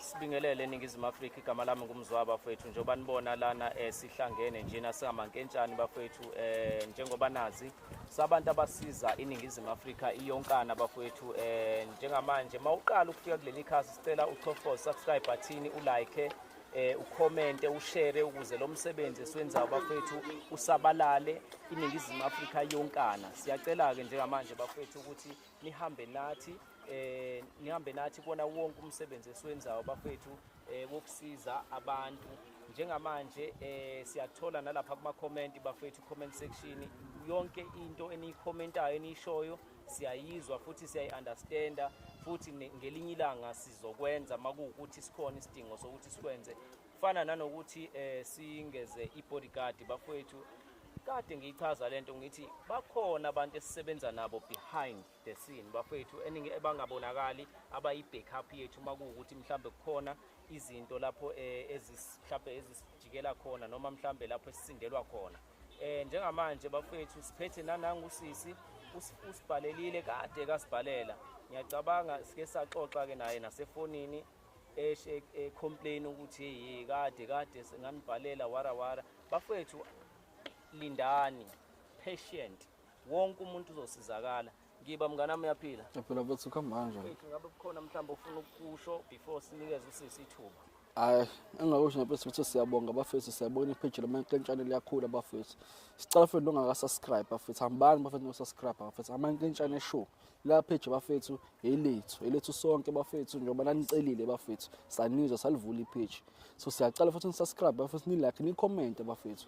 sibingelele eningizimu afrika igama lami ngumzwa bafowethu njengoba nibona lana um sihlangene njena singamankentshani bafowethu um njengoba nazi sabantu abasiza iningizimu afrika iyonkana bafowethu um njengamanje uma uqala ukufika kuleli khasi sicela uchofoze subscribe bathini ulike eh ukhomente ushare ukuze lo msebenzi esiwenzayo bafethu usabalale iningizimu Afrika yonkana siyacela ke njengamanje bafethu ukuthi nihambe nathi eh nihambe nathi kona wonke umsebenzi esiwenzayo bafethu eh wokusiza abantu njengamanje eh siyathola nalapha kuma comment bafethu comment section yonke into eniyikhomentayo enishoyo siyayizwa futhi siyayiunderstanda futhi ngelinye ilanga sizokwenza makuwukuthi sikhona isidingo sokuthi sikwenze fana nanokuthi eh singeze ibodyguard bafowethu kade ngiyichaza lento ngithi bakhona abantu esisebenza nabo behind the scene bafowethu eningi ebangabonakali abayi backup yethu uma kuwukuthi mhlambe kukhona izinto lapho eh, ezihlambe ezisijikela khona noma mhlambe lapho esisindelwa khona eh njengamanje bafowethu siphethe nanangu sisi usibhalelile kade kasibhalela ngiyacabanga sike saxoxa ke naye nasefonini eshe e complain ukuthi hey kade kade senganibhalela wara wara bafethu lindani patient wonke umuntu uzosizakala ngiba mngane wami uyaphila ngiyaphila bafethu kuhamba kanjani ethi ngabe kukhona mhlawumbe ufuna ukukusho before sinikeze usisi ithuba hayi engakusho nje bafethu siyabonga bafethu siyabona ipage lama nkentshane liyakhula bafethu sicela futhi ongaka subscribe bafethu hambani bafethu no subscribe bafethu ama nkentshane show lapheje bafethu elethu elethu sonke bafethu njengoba nanicelile bafethu sanizwa salivula ipheji so siyacela futhi nisubscribe bafethu nilike nicommente bafethu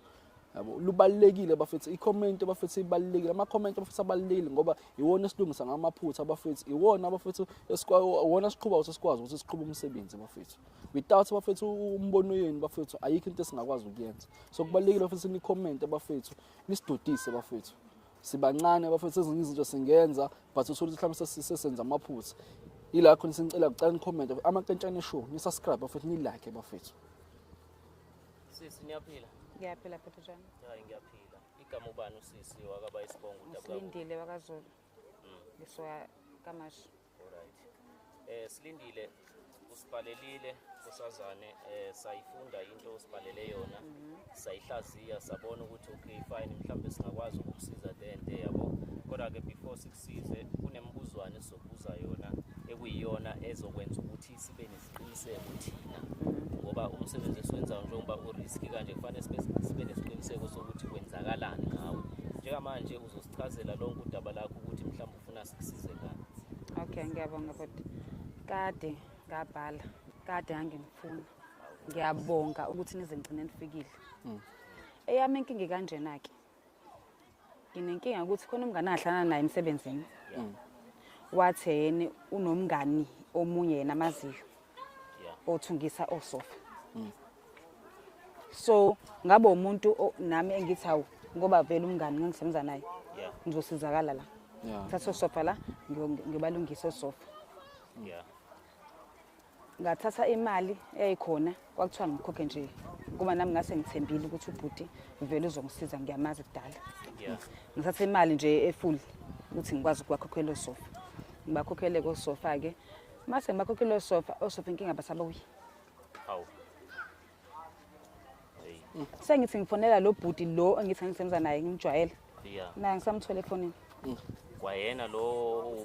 yabo lubalekile bafethu icomment bafethu ibalekile ama comment bafethu abalekile ngoba iwona esilungisa ngamaphutha bafethu iwona bafethu esikwona siqhuba ukuthi sikwazi ukuthi siqhube umsebenzi bafethu without bafethu umbono yenu bafethu ayikho into esingakwazi ukuyenza so kubalekile bafethu ni comment bafethu nisidudise bafethu sibancane bafethu ezinye izinto singenza but uthole ukuthi mhlawumbe sesenza amaphutha yila khona sinicela kucela nicomment amakentshane show nisubscribe bafethu nilike bafethu sisi niyaphila ngiyaphila phephe njani hayi ngiyaphila igama ubani usisi wakaba isibongo udabuka silindile wakazulu mm. ngiswa kamashi Alright. Eh silindile usibhalelile kusazane eh sayifunda into osibhalele yona mhm. sayihlaziya sabona ukuthi okay fine mhlawumbe singakwazi ukusiza le nto yabo kodwa ke before sikusize kunembuzwana esizobuza yona ekuyiyona ezokwenza ukuthi sibe nesiqiniseko thina mhm. ngoba umsebenzi esiwenzayo njengoba uriski kanje kufanele sibe nesiqiniseko sokuthi kwenzakalani ngawe njengamanje uzosichazela lonke udaba lakho ukuthi mhlawumbe funa sikusize ngani okay ngiyabonga bhuti kade ngabhala kade angimfuna ngiyabonga ukuthi nize ngigcine nifikile hmm. eyami inkinga kanjena-ke nginenkinga yokuthi khona umngane ahlana naye emsebenzini hmm. wathi yena unomngani omunye yena amaziyo othungisa osofa hmm. so ngabe umuntu o- nami engithi hawu ngoba vele umngani ngangisebenza naye Yeah. ngizosizakala la Yeah. thatha osofa la ngiyo- ngiyobalungisa osofa Yeah. ngathatha imali eyayikhona kwakuthiwa ngikhokhe nje kuba nami ngase ngithembile ukuthi ubhuti vele uzongisiza ngiyamazi kudala Yeah. ngithatha imali nje efuli ukuthi ngikwazi ukubakhokhela osofa ngibakhokhele kosofa-ke mase ngibakhokhele osofa osofa inkinga basabuye Hawu. Hey. Sengithi ngifonela lo bhuti lo engithi ngisebenza naye ngimjwayele. Yeah. Naye ngisamthole efonini. Mm. Kwayena lo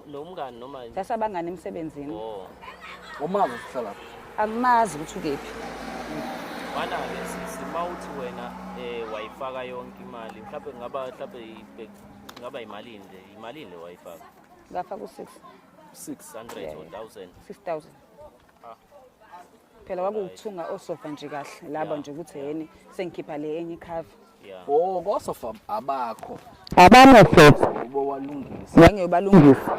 nomngani noma yini? Sasabangani emsebenzini. Oh. Umazi sihlala lapha. Angimazi ukuthi ukephi. Mana ke sisi mawuthi wena eh wayifaka yonke imali mhlawumbe ngaba mhlawumbe ngaba imali nje imali le wayifaka. Ngafaka u6. 600 or 1000. 6000. phela kwakuwukuthunga osofa nje kahle laba nje ukuthi yeni sengikhipha le enye ikhava oh kosofa abakho abanye futhi ubo walungisa ngeke ubalungisa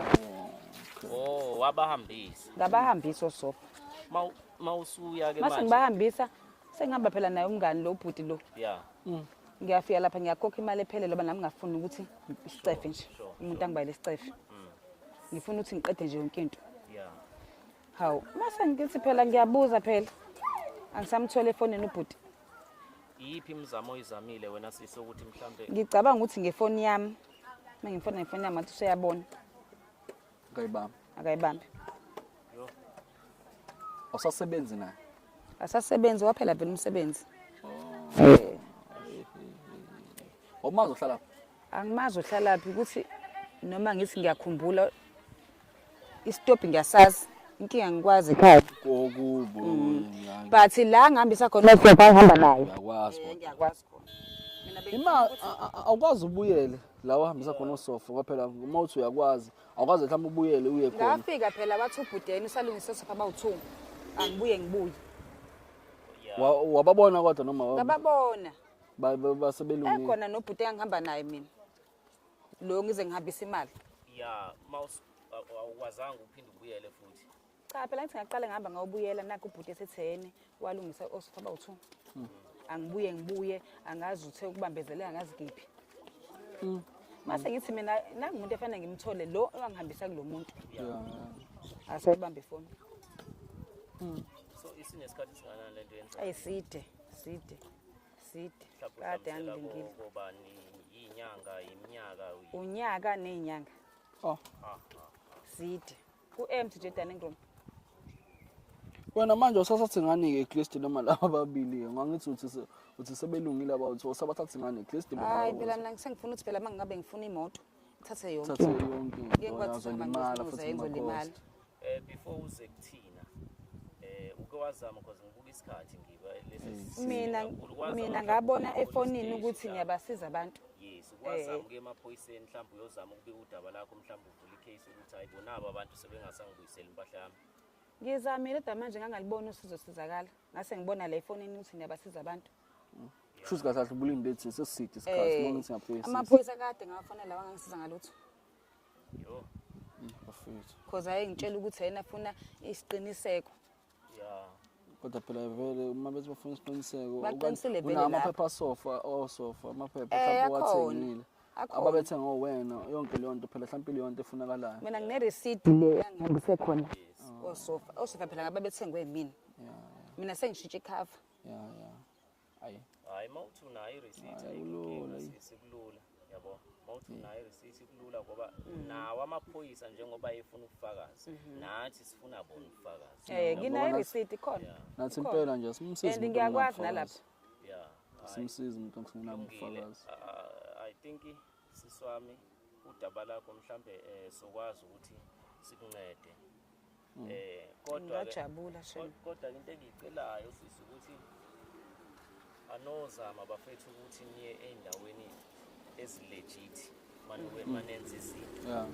oh wabahambisa ngabahambisa osofa Mau- mawusuya ke mase manje ngibahambisa sengihamba phela naye umngani lo bhuti lo yeah Mm. ngiyafika lapha ngiyakhokha imali ephelele ngoba nami ngafuni ukuthi isicefe nje umuntu angibayele isicefe ngifuna ukuthi ngiqede nje yonke into hawu mase ngithi phela ngiyabuza phela angisamthole efonini ubhuti iyiphi imizamo oyizamile wena sisi ukuthi mhlambe ngicabanga ukuthi ngefoni yami uma ngimfona ngefoni yami ngathi useyabona akayibambi akayibambi usasebenzi naye asasebenzi waphela phela umsebenzi oh. wawumazi uhlala phi angimazi uhlala phi ukuthi noma ngithi ngiyakhumbula isitobhi ngiyasazi inkinga ngikwazi ekhaya kokubo mm. but la ngihambisa khona ugogo angihamba naye ngiyakwazi eh, ngiyakwazi khona ima awukwazi ubuyele la uhambisa khona usofa ngoba phela uma uthi uyakwazi awukwazi mhlawumbe ubuyele uye khona ngafika phela bathi ubhudeni usalungisa usofa bawuthunga angibuye ngibuye wababona kodwa noma ngababona Ba- ba- base belungile ekhona nobhuti engihamba naye mina lo ngize ngihambisa imali ya mouse awukwazanga uphinde ubuyele futhi cha phela ngithi ngaqale ngihamba ngawubuyela nakho ubhuti esethene walungisa osofa bawu-two angibuye ngibuye angazi uthe ukubambezeleka angazi kiphi mase ngithi mina nangumuntu efanele ngimthole lo owangihambisa kulo muntu asebambe ifoni so isinesikhathi singanani le nto yenza ayiside side side kade angilindile ubani inyanga iminyaka unyaka nezinyanga oh side ku MC Jordan Ngrom wena manje usasathi ngani ke Christ noma laba ababili ngangithi uthi uthi sebelungile abawu usabathathi ngani Christ hayi phela mina ngisengifuna ukuthi phela mangabe ngifuna imoto ngithathe yonke thathe into yonke ngeke ndoda kwathi uzolimala futhi uzayenza makhosi ulimala Eh before uze kuthina eh uke wazama because ngibuka isikhathi ngiba lesi sisi mina kakhulu. Wazama mina mhlawumbe ngabona ukubona efonini i-stage ukuthi la. ngiyabasiza abantu Yes, ukwazama ukuya emaphoyiseni mhlawumbe uyozama ukubika udaba lakho mhlawumbe uvule icase ukuthi hayi bona aba bantu sebengasangibuyiseli impahla yami. ngizamile kodwa manje ngangalibona usizosizakala ngase ngibona la efonini ukuthi ngiyabasiza abantu Shuthi kahle ubulinde ethi seside isikhathi noma ngithi ngaphezu. Amaphoyisa kade ngawafonela wangangisiza ngalutho. Yo. Bafethu. Cause ayengitshela ukuthi yena afuna isiqiniseko. Yeah. Kodwa phela vele uma bethi bafuna isiqiniseko baqinisile vele lapha. Amaphepha sofa osofa oh, amaphepha eh, mhlawumbe wathengile. Ababethe ngowena yonke leyo nto phela mhlawumbe leyo nto efunakalayo. Mina ngine receipt le ngihambise khona. Osofa oh, osofa oh, phela ngababethengwe yimina. Mina sengishintshe ikhava. ya ya ayi hayi mawuthi unayo ireceipt ayikulula sikulula yabo mawuthi unayo ireceipt kulula ngoba mm. nawo amaphoyisa njengoba efuna ubufakazi mm-hmm. nathi sifuna bona ubufakazi eh nginayo ireceipt khona nathi impela nje simsiza and ngiyakwazi nalapha yeah simsiza umuntu ngifuna ubufakazi i think siswami udaba lakho mhlambe eh, sokwazi ukuthi sikuncede Mm. Eh kodwa ngajabula shame. Kodwa into engicelayo sisi ukuthi anozama bafethu ukuthi niye endaweni ezilegit manuke mm. manenza izinto. Yeah.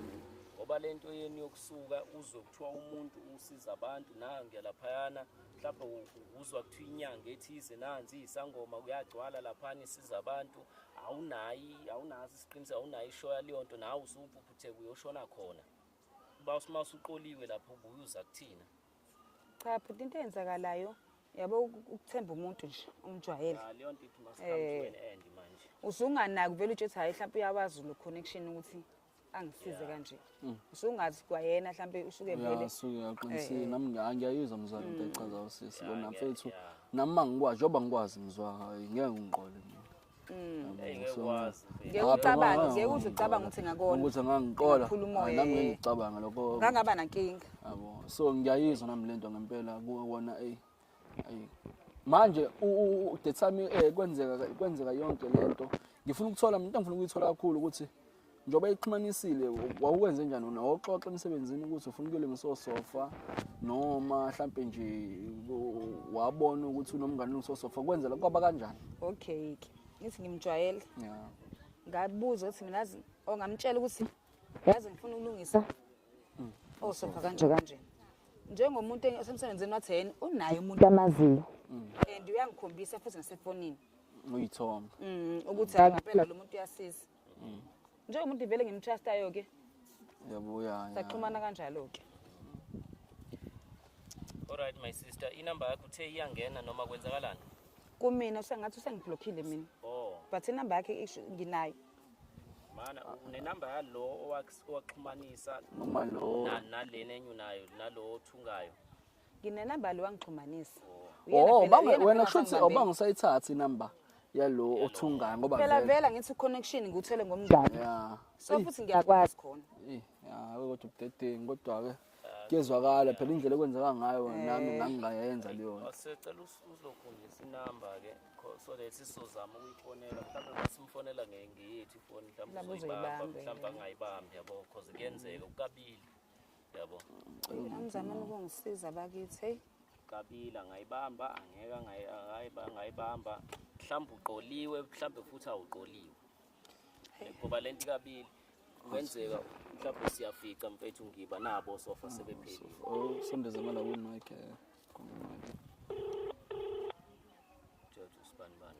ngoba le nto yenu yokusuka uzwe kuthiwa umuntu usiza abantu nange laphayana mhlawumbe uzwa kuthiwa inyanga ethize nanzi isangoma kuyagcwala laphana isiza abantu awunayi awunazi isiqiniseko awunayi ishoya leyo nto nawe usuphuphutheka uyoshona khona Uba uma usuqoliwe lapho ubuye uza kuthina. Cha bhuti into eyenzakalayo yabo ukuthemba umuntu nje umjwayele. Cha leyo nto ithi masihambe eh. wena end manje. Usunganaki vele uthi hayi mhlawumbe uyawazi lo connection ukuthi angisize kanje mm. usungazi kwayena mhlambe usuke vele uyaqinisile eh. nami ngiyayizwa mzwana into mm. echaza usisi bona mfethu nami mangikwazi njoba ngikwazi ngizwa hayi ngeke ngiqole mina Mm. Hey ngeke ukwazi. Ngeke ucabange, ngeke uze ucabange ukuthi ngakona. Ukuthi angangiqola. Ngaphula umoya. Nami ngeke eh. ngicabanga lokho. Ngangaba nankinga. Yabo. So ngiyayizwa nami lento ngempela kuwona ey. Ayi. Manje udethi sami eh, kwenzeka kwenzeka yonke lento. Ngifuna ukuthola mina ngifuna ukuyithola kakhulu ukuthi njengoba ixhumanisile wawukwenze njani wona wawuxoxa emsebenzini ukuthi ufuna ukuyolungisa osofa noma mhlampe nje wabona ukuthi unomngane olungisa osofa kwenzela kwaba kanjani okay ke ngithi ngimjwayele ya ngabuza ukuthi mina azi ongamtshela ukuthi yazi ngifuna ukulungisa mm. osofa kanje kanje njengomuntu osemsebenzini wathi yena unaye umuntu amaziyo mm. and uyangikhombisa futhi ngasefonini uyithoma mm, ukuthi hayi ngempela lo muntu uyasiza mm. njengomuntu vele ngimtrustayo ke yabuya saxhumana kanjalo ke Alright my sister, inamba yakho uthe iyangena noma kwenzakalani? Kumina usengathi usengiblockile mina. Oh. But inamba yakhe isho nginayo. Mana unenamba yalo owaxhumanisa noma lo nalena enye unayo nalo othungayo. nginenamba le wangixhumanisa oh wena kusho ukuthi awubanga usayithatha inamba yalo othungayo ngoba phela vela ngithi connection ngikuthele ngomngane yeah so futhi ngiyakwazi khona eh yeah kodwa ubudedengu kodwa ke kuyezwakala phela indlela ekwenzeka ngayo eh. nami ngangingayenza leyo nto sicela uzokhombisa inamba ke so that sizozama ukuyifonela mhlawumbe masimufonela ngeyethu ifoni mhlawumbe uzoyibamba mhlawumbe angayibambi yabo because kuyenzeka ukabili yabo anizamani ukungisiza bakithi heyi kabila ngayibamba angeka ngayi- angayiba- ngayibamba mhlawumbe uqoliwe mhlawumbe futhi awuqoliwe ngoba le nto ikabili kungenzeka mhlawumbe siyafica mfethu ngiba nabo sofa sebephelile Oh, sondeza mala win mic eh. Kumbe mic. George usibanibani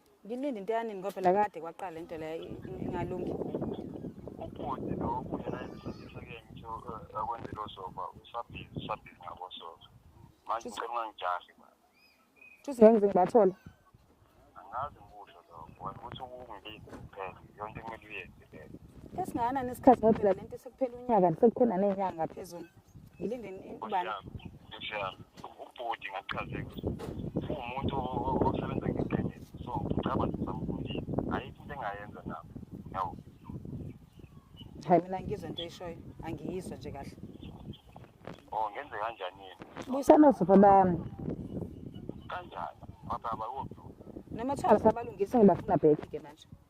Ngilinde into yanini ngoba phela kade kwaqala into le ingalungi. Ubhuti lo kuyena esifundisa ke ngitho eh, akwenzelo sofa usabhizi usabhizi ngabo sofa. Manje ngicela ungangijahi ba. Just ngenze ngibathola. Angazi ngikusho lokho. Ukuthi ukungilinde kuphela yonke into kumele uyenze. Esingana nesikhathi ngoba phela lento sekuphela unyaka sekukhona nenyanga phezulu. ngilindeni ubani ubhodi ngachazeka uwumuntu osebenza ngeqiniso so ngicabanga ukuthi samfundile ayikho into engayenza nabo yabo hayi mina ngizwe into eyishoyo angiyizwa nje kahle o oh, ngenze kanjani yini buyisana sipha bami kanjani ababa wophi noma thwala sabalungise ngibafuna bheki ke manje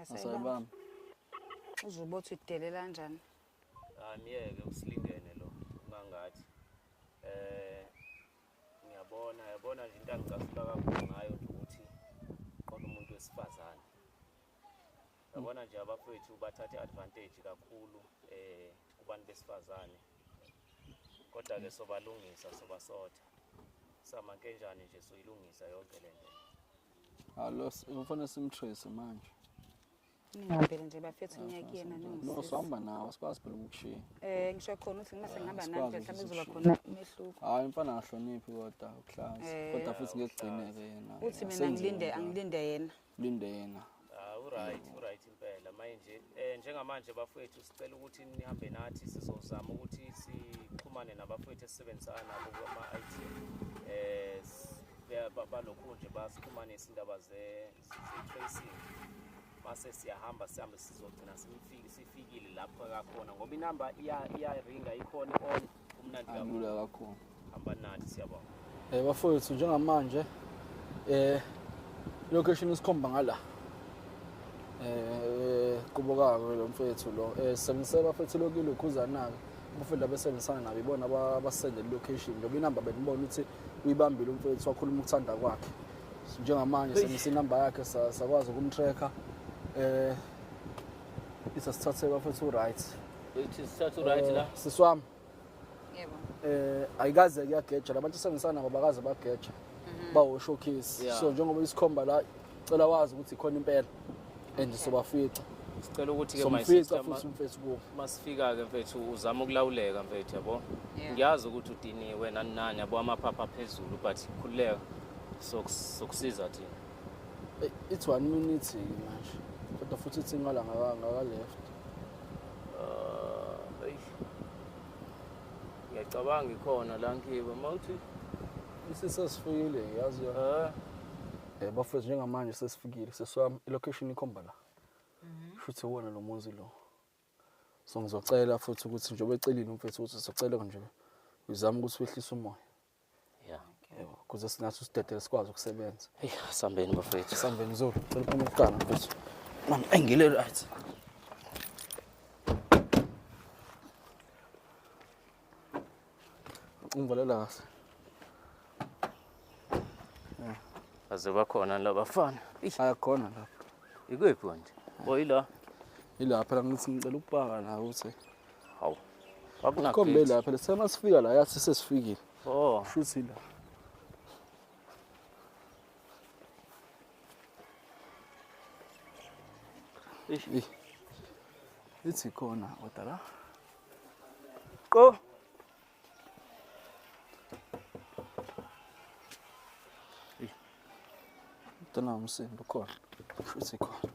Asayibamba. Uzobe uthi udelela kanjani? Aniyeke usilingene lo ungangathi. Eh ngiyabona yabona nje into angicasula kakhulu ngayo nje ukuthi qona umuntu wesifazane. Yabona nje abafowethu bathatha advantage kakhulu eh kubantu besifazane. kodwa-ke sobalungisa sobasotha samankenjani nje soyilungisa yonke le nto alo kufanele simtrace manje ningambele nje bafethu ah, ngiya kuyena no sihamba nawo sikwazi phela ukukushiya eh ngisho khona ukuthi uma sengihamba nawe mhlawumbe kuzoba khona umehluko hayi mfana angahloniphi kodwa ukuhlaza eh, kodwa futhi ngekugcineke yena uthi mina ngilinde angilinde yena lindena ah uright uright impela manje eh njengamanje bafowethu sicela ukuthi nihambe nathi sizozama ukuthi sixhumane nabafowethu esisebenzisana nabo kuma IT eh balokhu nje basixhumanisa indaba ze tracing mase siyahamba sihambe sizogcina sifikile lapho kakhona ngoba inamba iya iya ringa ikhona on Alula kakhulu. Hamba nathi siyabonga. Eh bafowethu njengamanje eh location isikhomba ngala. Eh kubokako lo mfethu lo. Eh sengiseba futhi lokile ukhuzana ke. Umfethu abesebenzisana nabo ibona abasendele location. Ngoba inamba benibona ukuthi uyibambile umfethu wakhuluma ukuthanda kwakhe. Njengamanje sengise inamba yakhe sakwazi ukumtracker. Eh Isa sithathe bafethu right. Ithi sithathe right la. Siswami. Yebo. Eh ayikaze kuyageja labantu sengisana ngoba kaze bageja. Mhm. Bawo showcase. Yeah. So njengoba isikhomba la cela wazi ukuthi khona impela and sobafica. Sicela ukuthi ke my sister Somfica futhi umfethu kubo. masifika ke mfethu uzama ukulawuleka mfethu yabo. Yeah. Ngiyazi ukuthi udiniwe nani nani yabo amaphapha phezulu but khululeka sokusiza thina. it's one minute manje kodwa futhi ithi ngala ngaka left uh, ngiyacabanga ikhona la ngiba mawuthi isisesifikile yazi yo eh. eh bafethu njengamanje sesifikile seswami ilocation ikhomba la mhm. futhi wona lo muzi lo so ngizocela futhi ukuthi njengoba ecelile umfethu ukuthi sicela nje uzama ukuthi wehlise umoya ya yebo kuze sinathi usidedele sikwazi ukusebenza eyi asambeni bafethu sambeni zulu cela uphume kuqala mfethu mama engile right ungivalela kahle aze bakhona la bafana Eish, ayakhona lapha ikuphi manje oyila yilapha la ngithi ngicela ukupaka la ukuthi Hawu. Akunakho. Kombe la phela sema sifika la yathi sesifikile. Oh. Shuthi la. Eish. Ithi khona kodwa la. Qo. Tana umsindo khona. Shuthi khona.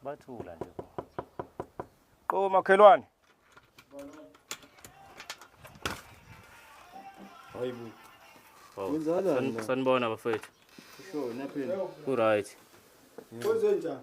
bathula nje qo makhelwane hayibo wenzalani sanibona bafethu sure naphini ku right kwenzenjani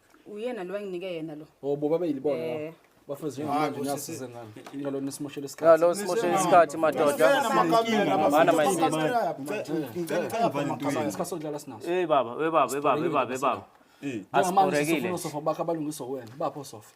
uyena lo enginike yena lo Oh bo babe yilibona. Eh. Bafethu njengamanje Hayi, bo, ngiyasiza sisi. ngani. Ngalona isimoshela isikhathi. Ngalo simoshela isikhathi madoda. Mana mayisisi. Isikhathi sodlala sinaso. Hey baba, hey baba, hey baba, hey baba, hey baba. Njengamanje Asiborekile. sifuna sofa bakhe abalungiswa wena. Bapho sofa.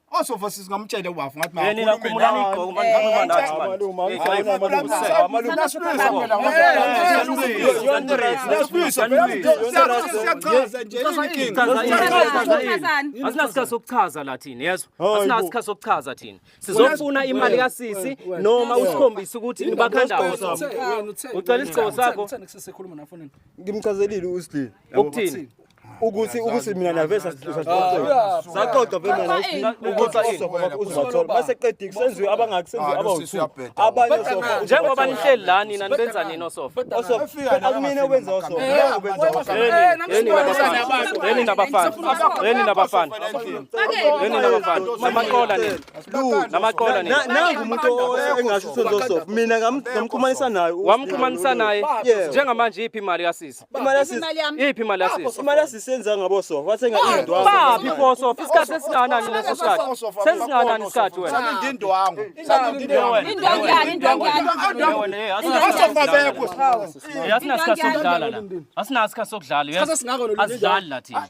osofa sisingamtshele wafu ngathi ma yena khumula ngigqoko manje ngama nathi manje uma ngifuna malume malume nasibuyisa phela nasibuyisa siyachaza nje inkinga asinasikhathi sokuchaza la thina yezwa asinasikhathi sokuchaza thina sizofuna imali kasisi noma usikhombise ukuthi nibakhanda ucela isigqoko sakho ngimchazelile usidini ukuthini ukuthi ukuthi mina nave saxoxa saxoxa phela mina ukuthi uzoba uzobathola base qedike senziwe abangaki senziwe abawuthu abanye sofa njengoba nihleli la nina nibenza nini osofa osofa akumina obenza osofa mina obenza osofa yini nabafana yini nabafana yini nabafana yini nabafana namaqola nini namaqola nini nangu umuntu engasho senzo osofa mina ngamxhumanisa naye wamxhumanisa naye njengamanje iphi imali kasisi iphi imali yasisi imali asisenza ngabo so wathenga indwangu baphi foso isikhathi esinganani leso sikhathi sesinganani isikhathi wena salinde indwangu salinde indwangu indwangu yani indwangu yani asinasikhathi sokudlala la asinasikhathi sokudlala asidlali la thina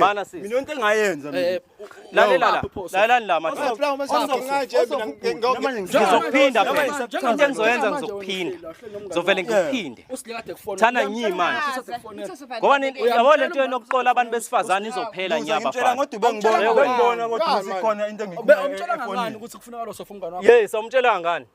Bana sisi. Mina into engayenza mina. Eh, Lalela la. Lalela la mathi. Ngizokuphinda phela. Into engizoyenza ngizokuphinda. Ngizovele ngikuphinde. Thana nyi manje. Ngoba yabo lento yokuqola abantu besifazane izophela nje abafana. Ngitshela ngothi bengibona bengibona ukuthi sikhona into engikubona. Umtshela ngani ukuthi kufuneka lo sofa umngane wakho? Yes, umtshela ngani?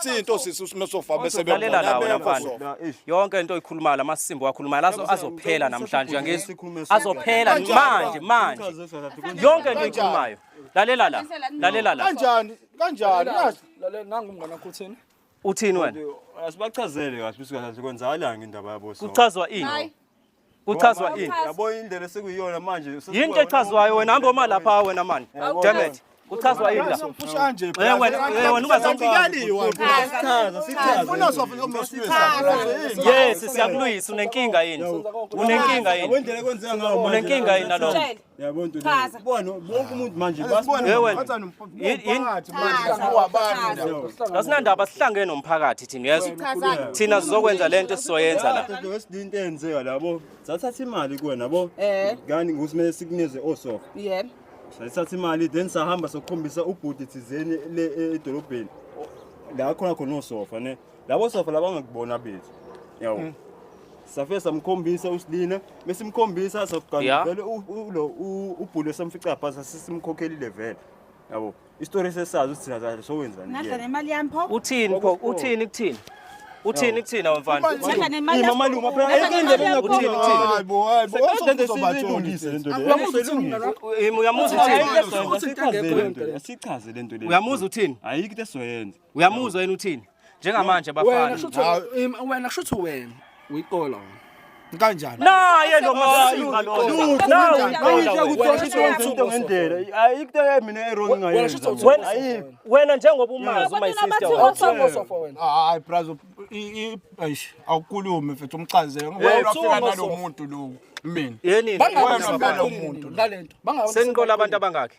Sinto sisi usimesofa bese Lalela la wena mfana. beyona. Yonke into oyikhuluma la masimbo wakhuluma la azo- azophela namhlanje ngizwe. Azophela Kanjani? manje manje. Yonke into oyikhulumayo. Lalela la. Lalela la. Kanjani? Kanjani? Yazi. Lalela nangu mngane wakho uthini? Uthini wena? Asibachazele kahle ukuthi kahle kwenzakalanga indaba yabo so. Kuchazwa ini? Hayi. kuchazwa ini yabo indlela esikuyona manje yinto echazwayo wena hamba uma lapha wena mani damn it kuchazwa yini la umfusha nje eh wena eh, wena ungazombikali wena sifuna sofa umsichaza yes siyakuluyisa unenkinga yini unenkinga yini unenkinga yini nalokho Yabo nto Chaza. Bona bonke umuntu manje Wewe. asinandaba sihlangene nomphakathi thina uyezwa Chaza. thina sizokwenza lento esizoyenza la Into wesidinto eyenzeka labo. Sathatha imali kuwena yabo. Eh. Ngani ngusimele sikunikeze osofa. Yebo. Sathatha imali then sahamba sokukhombisa ubhuti thizeni le e- edolobheni. La khona khona osofa ne. labo safa labangakubona abethu yawo mm. safe samkhombisa usilina mesimkhombisa sokugcina vele ulo ubhulu esamfica phansi sisimkhokhelile vele yabo isitori sesazi ukuthi thina kahle sowenzani nadla nemali yami pho uthini pho uthini kuthini uthini kuthina wemfana imama luma phela ayikendele ngakuthini hayibo hayibo usende sizobatholisa lento le uyamuza uthini uyamuza uthini ayikho into esizoyenza uyamuzwa yena uthini njengamanje bafana wena kusho ukuthi wena uyiqola wena kanjani naye lo masimba lona wena njengoba umazi my sister hayi braz eish awukhulume mfethu umchazele ngoba ufika nalomuntu lo mina yini bangamuntu ngalento bangawo seniqola abantu abangaki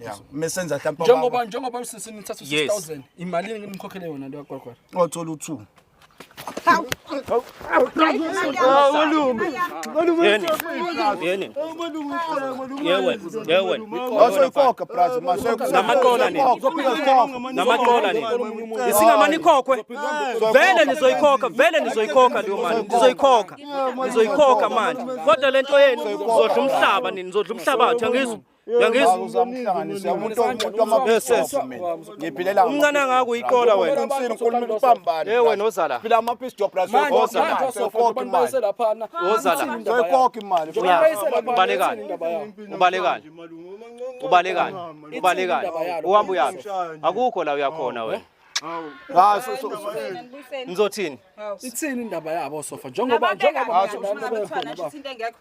Yeah. Mesenza mhlawumbe njengoba njengoba usisini uthatha 6000 imali ngimkhokhele yona lo kwakwara. Othola u2. Hawu. Hawu. vele nizoyikhokha vele nizoyikhokha leyo mali nizoyikhokha nizoyikhokha manje kodwa lento yenu nizodla umhlaba nini nizodla umhlabathi angizwa umncane angako uyiqola wenaewen ozala ubalekani uhamba uyaphi akukho la uyakhona wena Ah, Ngizothini? Ithini indaba yabo sofa njengoba njengoba abantu abathwala nje into engekho.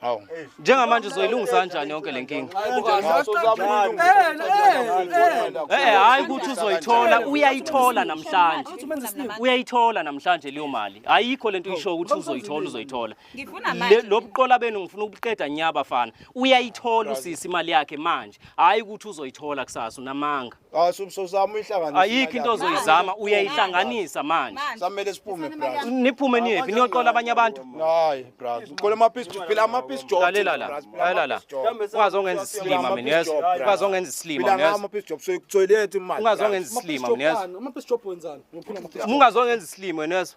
Hawu. Njengamanje uzoyilungisa kanjani yonke le nkinga? Eh hayi ukuthi uzoyithola, uyayithola namhlanje. Uyayithola namhlanje leyo mali. Ayikho lento uyisho ukuthi uzoyithola, uzoyithola. Ngifuna Le- manje. Lobuqola benu ngifuna ukuqeda nyaba fana. Uyayithola usisi imali yakhe manje. Hayi ukuthi uzoyithola kusasa unamanga. ayikho into ozoyizama uyayihlanganisa manje samele siphume brother niphume niyephi niyoqola abanye abantu hayi brother uqola ama piece phila ama piece job lalela la lalela la ungaze ongenza isilima mina yes ungaze ongenza isilima mina yes ama piece job soyikuthoyileta imali ungaze ongenza isilima mina yes ama piece job wenzani ungaze ongenza isilima mina yes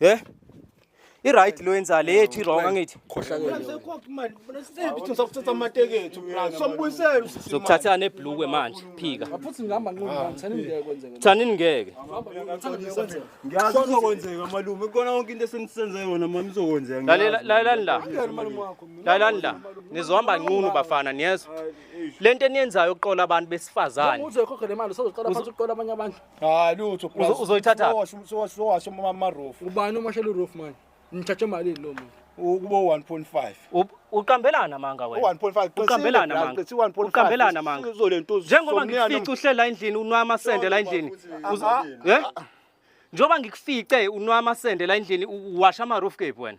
He? I right lo yenza le ethi wrong angithi. Zokuthatha ne blue manje phika. Futhi ngihamba nqondo ngithani ngeke kwenzeke. Thani ngeke. Ngiyazi uzokwenzeka malume kona konke into esenisenze yona mama izokwenzeka. Lalela lalela la. Lalela la. Nizohamba nqunu bafana niyezwa. Lento eniyenzayo uqola abantu besifazane. Uzokhokha le mali usozoqala phansi uqola abanye abantu. hayi lutho Uzo- uzoyithatha? sowasho amarofu ubani uma shela uroof manje nithathe malini lo muntu ukuba 1.5 U- uqambelana amanga wena u-1.5 uqambelana amanga uqambelana amanga njengoba ngikufica uhlela endlini unwa amasende la endlini Uzo- Ah, ah, eh? njengoba ngikufice unwa amasende la endlini uwasha amaroof cape wena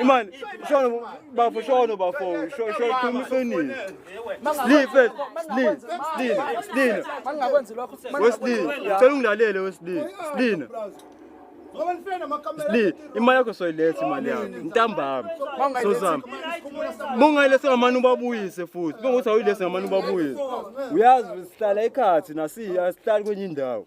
Imani, shono bafo shono bafo, shono khuluma iqiniso. Sleep, sleep, sleep, sleep. Mangakwenzi lokho. Wesley, ngicela ungilalele Wesley. Sleep. Sli, imali yakho soyiletha imali yakho. Ntambama. Sozama. Mungayilesa ngamani ubabuyise futhi. Bengothi awuyilesa ngamani ubabuyise. Uyazi sihlala ekhathi nasiya sihlala kwenye indawo.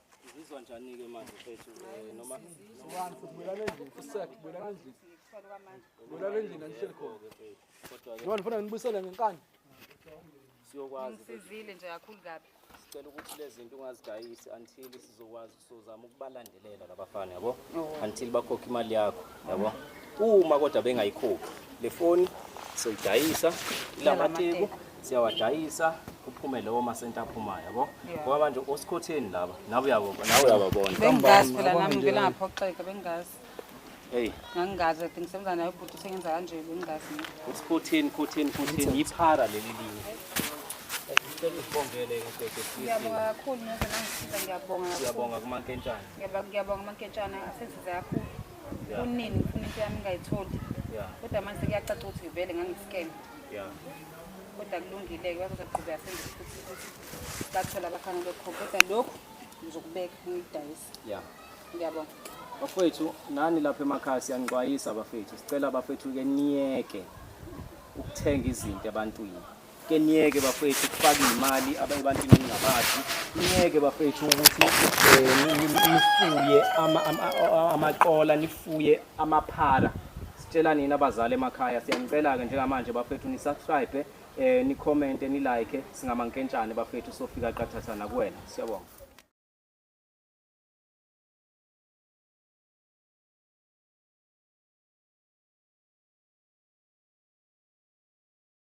Ngizizwa njani ke manje mfethu eh, noma One futhi bulala endlini futhi sakhe bulala endlini. Bulala endlini angihleli khona. kodwa ke Yona ngifuna nginibuyisele ngenkani. siyokwazi ukuthi Ngisizile nje kakhulu kabi. sicela ukuthi lezi zinto ungazidayisi until sizokwazi sozama ukubalandelela labafana yabo until bakhokhe imali yakho yabo uma kodwa bengayikhuphi le foni soyidayisa ilamateku siyawadayisa kuphume lowo masenta aphumayo yabo ngoba manje osikhotheni laba nawe uyabo nawe uyababona bengazi phela nami ngivela ngaphoxeka bengazi hey ngangazi i think senza nayo ubhuti sengenza kanje bengazi usikhotheni khotheni khotheni yiphara leli linye ngicela usibongele kakhulu neze nangisiza ngiyabonga siyabonga kumankentshana Ngiyabonga ngiyabonga manketshana asensize kakhulu. Yeah. Kunini ngifuna into yami ngayitholi. Yeah. Kodwa manje kuyacaca ukuthi ngivele ngangiscam. Yeah. Kodwa kulungile ke bazoqhubeka senze futhi ukuthi bathola abafanele khona. Kodwa lokhu ngizokubeka ngidayisa. Yeah. Ngiyabonga. Bafethu nani lapha emakhaya siyanixwayisa bafethu. Sicela bafethu ke niyeke ukuthenga izinto ebantwini. ke niyeke bafethu ukufaka imali abayebantwini ningabazi niyeke bafethu ukuthi eh, nifuye amaqola nifuye amaphara sitshela nina abazali emakhaya siyanicela-ke njengamanje bafethu nisubscribe um eh, nikhomente nilike singamankentshane bafethu sofika qathatha nakuwena siyabonga